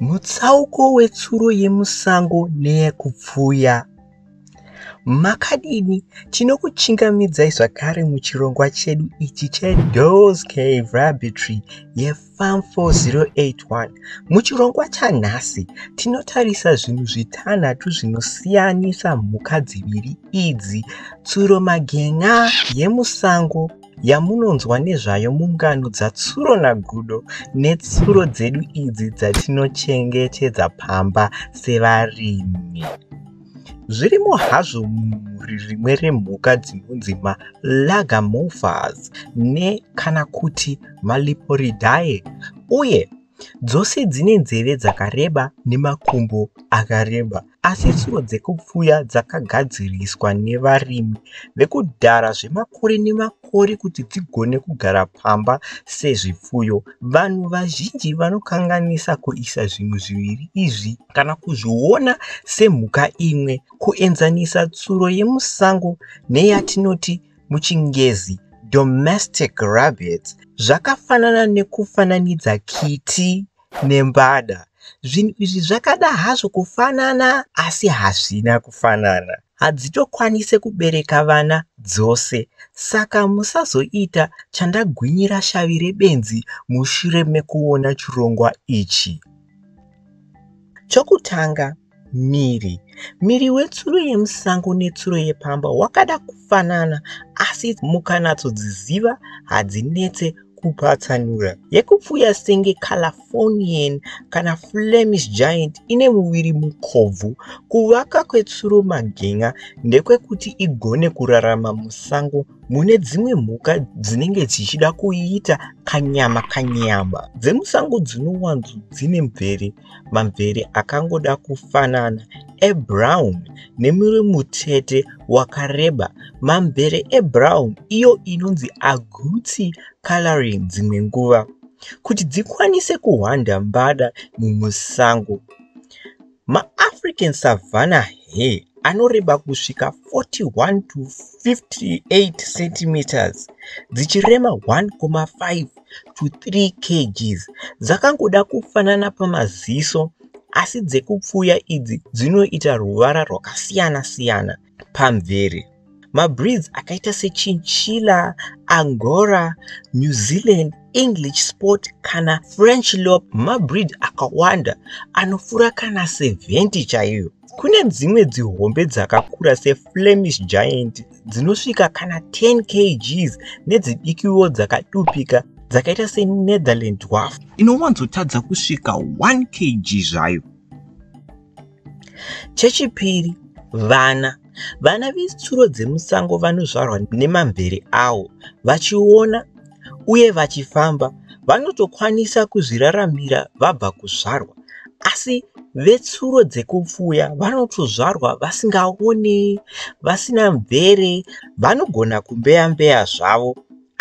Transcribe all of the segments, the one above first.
Mutsauko wetsuro yemusango neyekupfuya. Makadini? Tinokuchingamidzai zvakare muchirongwa chedu ichi cheDoors Cave Laboratory yeFarm 4081. Muchirongwa chanhasi, tinotarisa zvinhu zvitanhatu zvinosiyanisa mhuka dziviri idzi, tsuromagenya yemusango, yamunonzwa nezvayo mungano dzatsuro nagudo netsuro dzedu idzi dzatinochengetedza pamba sevarimi zvirimo hazvo mumhuri rimwe remhuka dzinonzi malagamofas ne kana kuti maliporidae uye dzose dzine nzeve dzakareba nemakumbo akareba Asi tsuro dzekupfuya dzakagadziriswa nevarimi vekudhara zvemakore nemakore kuti dzigone kugara pamba sezvipfuyo. Vanhu vazhinji vanokanganisa kuisa zvinhu zviviri izvi kana kuzviona semhuka imwe, kuenzanisa tsuro yemusango neyatinoti muchiNgezi domestic rabbits zvakafanana nekufananidza kiti nembada. Zvinhu izvi zvakada hazvo kufanana asi hazvina kufanana. Hadzitokwanise kubereka vana dzose saka musazoita chandagwinyira shavi rebenzi mushure mekuona chirongwa ichi. Chokutanga, Miri. Miri wetsuro yemusango netsuro yepamba wakada kufanana asi mukanyatsodziziva hadzinetse kupatsanura. Yekupfuya senge Californian kana Flemish Giant ine muviri mukobvu. Kuvaka kwetsuro magen'a ndekwekuti igone kurarama musango mune dzimwe mhuka dzinenge dzichida kuiita kanyama kanyama. Dzemusango dzinowanzo dzine mvere. mamvere akangoda kufanana ebrown nemuri mutete wakareba mamvere ebrown iyo inonzi aguti coloring dzimwe nguva kuti dzikwanise kuhwanda mbada mumusango maafrican savana he anoreba kusvika 41 to 58 centimeters dzichirema 1,5 to 3 kgs dzakangoda kufanana pamaziso asi dzekupfuya idzi dzinoita ruvara rwakasiyana siyana pamvere. Mabreeds akaita sechinchilla, angora, new zealand, english sport kana french lop mabreed akawanda anofura kana 70 chaiyo. Kune dzimwe dzihombe dzakakura seflemish giant dzinosvika kana 10 kgs nedzidikiwo dzakadupika dzakaita senetherland dwarf inowanzotadza kusvika 1 kg zvayo chechipiri vana vana vetsuro dzemusango vanozvarwa nemamvere awo vachiona uye vachifamba vanotokwanisa kuzviraramira vabva kuzvarwa asi vetsuro dzekupfuya vanotozvarwa vasingaoni vasina mvere vanogona kumbeya mbeya zvavo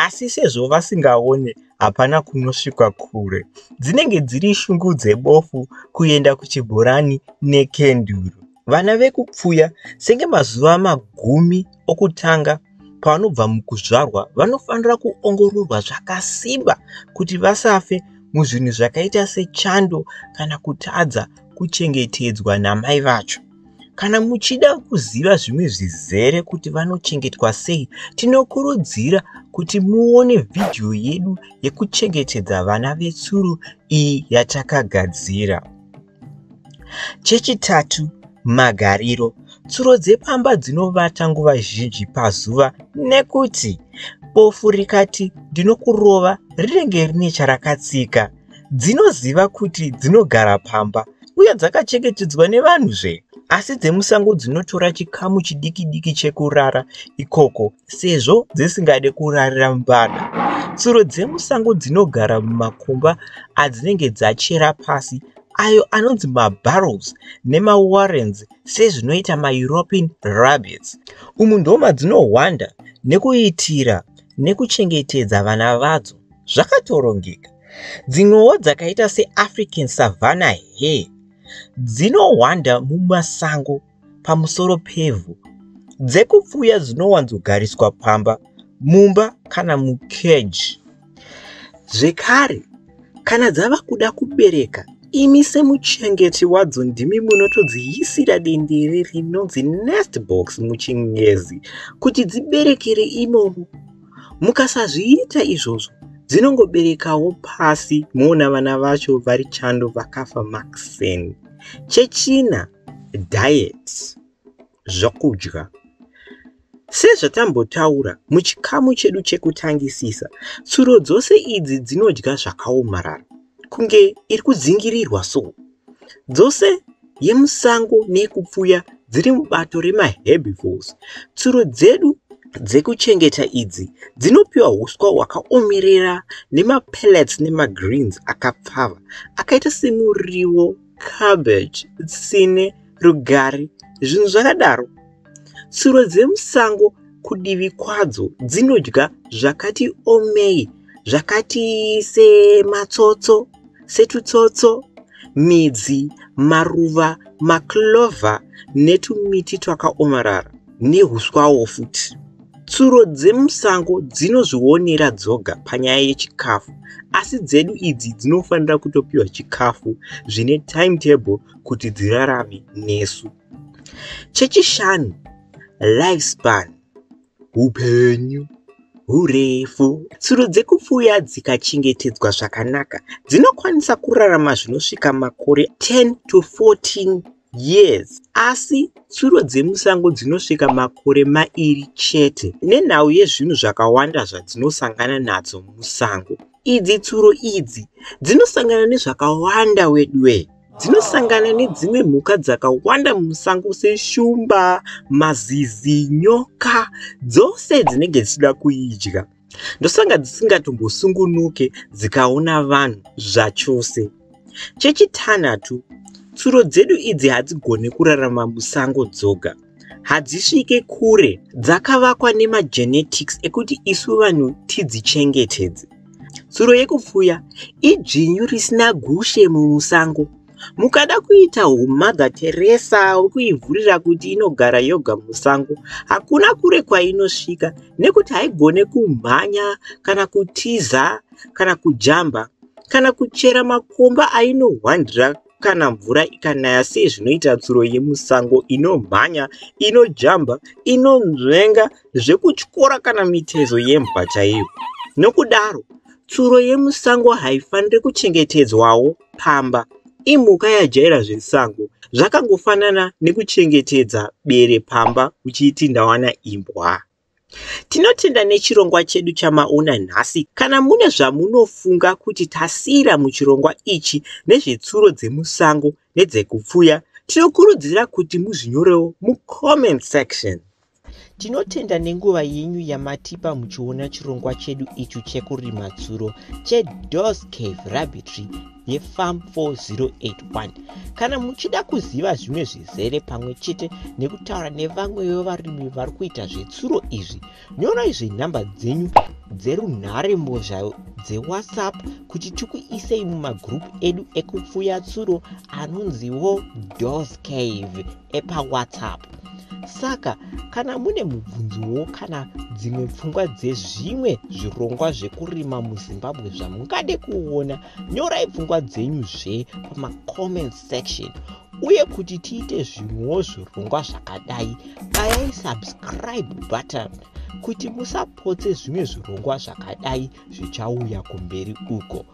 asi sezvo vasingaone hapana kunosvikwa kure dzinenge dziri shungu dzebofu kuenda kuchibhorani nekenduru. vana vekupfuya senge mazuva magumi okutanga pavanobva mukuzvarwa vanofanira kuongororwa zvakasimba kuti vasafe muzvinhu zvakaita sechando kana kutadza kuchengetedzwa namai vacho kana muchida kuziva zvimwe zvizere kuti vanochengetwa sei tinokurudzira kuti muone vhidhiyo yedu yekuchengetedza vana vetsuro iyi yatakagadzira Chechitatu, magariro. Tsuro dzepamba dzinovata nguva zhinji pazuva nekuti bofu rikati ndinokurova rinenge rine charakatsika. Dzinoziva kuti dzinogara pamba uye dzakachengetedzwa nevanhuzve asi dzemusango dzinotora chikamu chidikidiki chekurara ikoko sezvo dzisingade kurarira mvana. Tsuro dzemusango dzinogara mumakomba adzinenge dzachera pasi ayo anonzi mabarrels nemawarrens sezvinoita maEuropean rabbits. Umu ndomadzinohwanda nekuitira nekuchengetedza vana vadzo zvakatorongeka. Dzimwewo dzakaita seAfrican savanna hare dzinohwanda mumasango pamusoro pevhu dzekupfuya dzinowanzogariswa pamba mumba kana mukeji zvekare kana dzava kuda kubereka imi semuchengeti wadzo ndimi munotodziyisira dendere rinonzi nest box muchingezi kuti dziberekere imomo mukasazviita izvozvo dzinongoberekawo pasi moona vana vacho vari chando vakafa maxen chechina Diet, zvokudya. Sezvatambotaura muchikamu chedu chekutangisisa, tsuro dzose idzi dzinodya zvakaomarara, kunge iri kudzingirirwa so. Dzose yemusango neyekupfuya dziri mubato remaherbivores. Tsuro dzedu dzekuchengeta idzi dzinopiwa huswa hwakaomerera nemapellets nemagreens akapfava akaita semuriwo cabbage, tsine, rugare, zvinhu zvakadaro. Tsuro dzemusango kudivi kwadzo dzinodya zvakati omei, zvakati sematsotso, setutsotso, midzi, maruva, maclover netumiti twakaomarara nehuswawo futi. Tsuro dzemusango dzinozvionera dzoga panyaya yechikafu asi dzedu idzi dzinofanira kutopiwa chikafu zvine timetable kuti dzirarame nesu. Chechishanu, lifespan, upenyu hurefu. Tsuro dzekupfuya dzikachengetedzwa zvakanaka dzinokwanisa kurarama zvinosvika makore 10 to 14 Yes, asi tsuro dzemusango dzinosvika makore mairi chete nenhau yezvinhu zvakawanda zvadzinosangana nadzo musango. Idzi tsuro idzi dzinosangana nezvakawanda weduwee. Dzinosangana nedzimwe mhuka dzakawanda mumusango seshumba, mazizi, nyoka dzose dzinenge dzichida kuidya. ndosanga dzisingatombosungunuke dzikaona vanhu zvachose chechitanhatu tsuro dzedu idzi hadzigone kurarama musango dzoga hadzisvike kure dzakavakwa nemagenetics ekuti isu vanhu tidzichengetedze tsuro yekupfuya idzvinyu risina gushe mumusango Mukada kuita humother Teresa wekuivhurira kuti inogara yoga musango, hakuna kure kwainosvika nekuti haigone kumhanya kana kutiza kana kujamba kana kuchera makomba ainohwandira kana mvura ikanaya sezvinoita tsuro yemusango inomhanya, inojamba, inonzvenga zvekutyora kana mitezo yembwa chaiyo. Nokudaro, tsuro yemusango haifaniri kuchengetedzwawo pamba. Imhuka yajaira zvesango, zvakangofanana nekuchengetedza bere pamba uchiiti ndawana imbwa. Tinotenda nechirongwa chedu chamaona nhasi. Kana mune zvamunofunga kuti tasiyira muchirongwa ichi nezvetsuro dzemusango nedzekupfuya, tinokurudzira kuti muzvinyorewo mucomment section. Tinotenda nenguva yenyu yamatipa muchiona chirongwa chedu ichu chekurima tsuro cheDoors Cave Rabbitry yeFarm 4081. Kana muchida kuziva zvimwe zvizere pamwe chete nekutaura nevamwe vevarimi vari kuita zvetsuro izvi, nyorai zvenhamba dzenyu dzerunhare mbozha dzeWhatsApp kuti tikuisei mumagurupu edu ekupfuya tsuro anonziwo Doors Cave. epawhatsapp saka kana mune mubvunzowo kana dzimwe pfungwa dzezvimwe zvirongwa zvekurima muzimbabwe zvamungade kuona nyorai pfungwa dzenyu zve pamacomment section uye kuti tiite zvimwewo zvirongwa zvakadai bayai subscribe button kuti musapotse zvimwe zvirongwa zvakadai zvichauya kumberi uko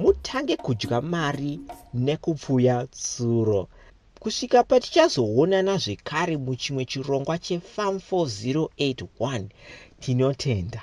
mutange kudya mari nekupfuya tsuro kusvika patichazoonana zvekare muchimwe chirongwa chefam 4081 tinotenda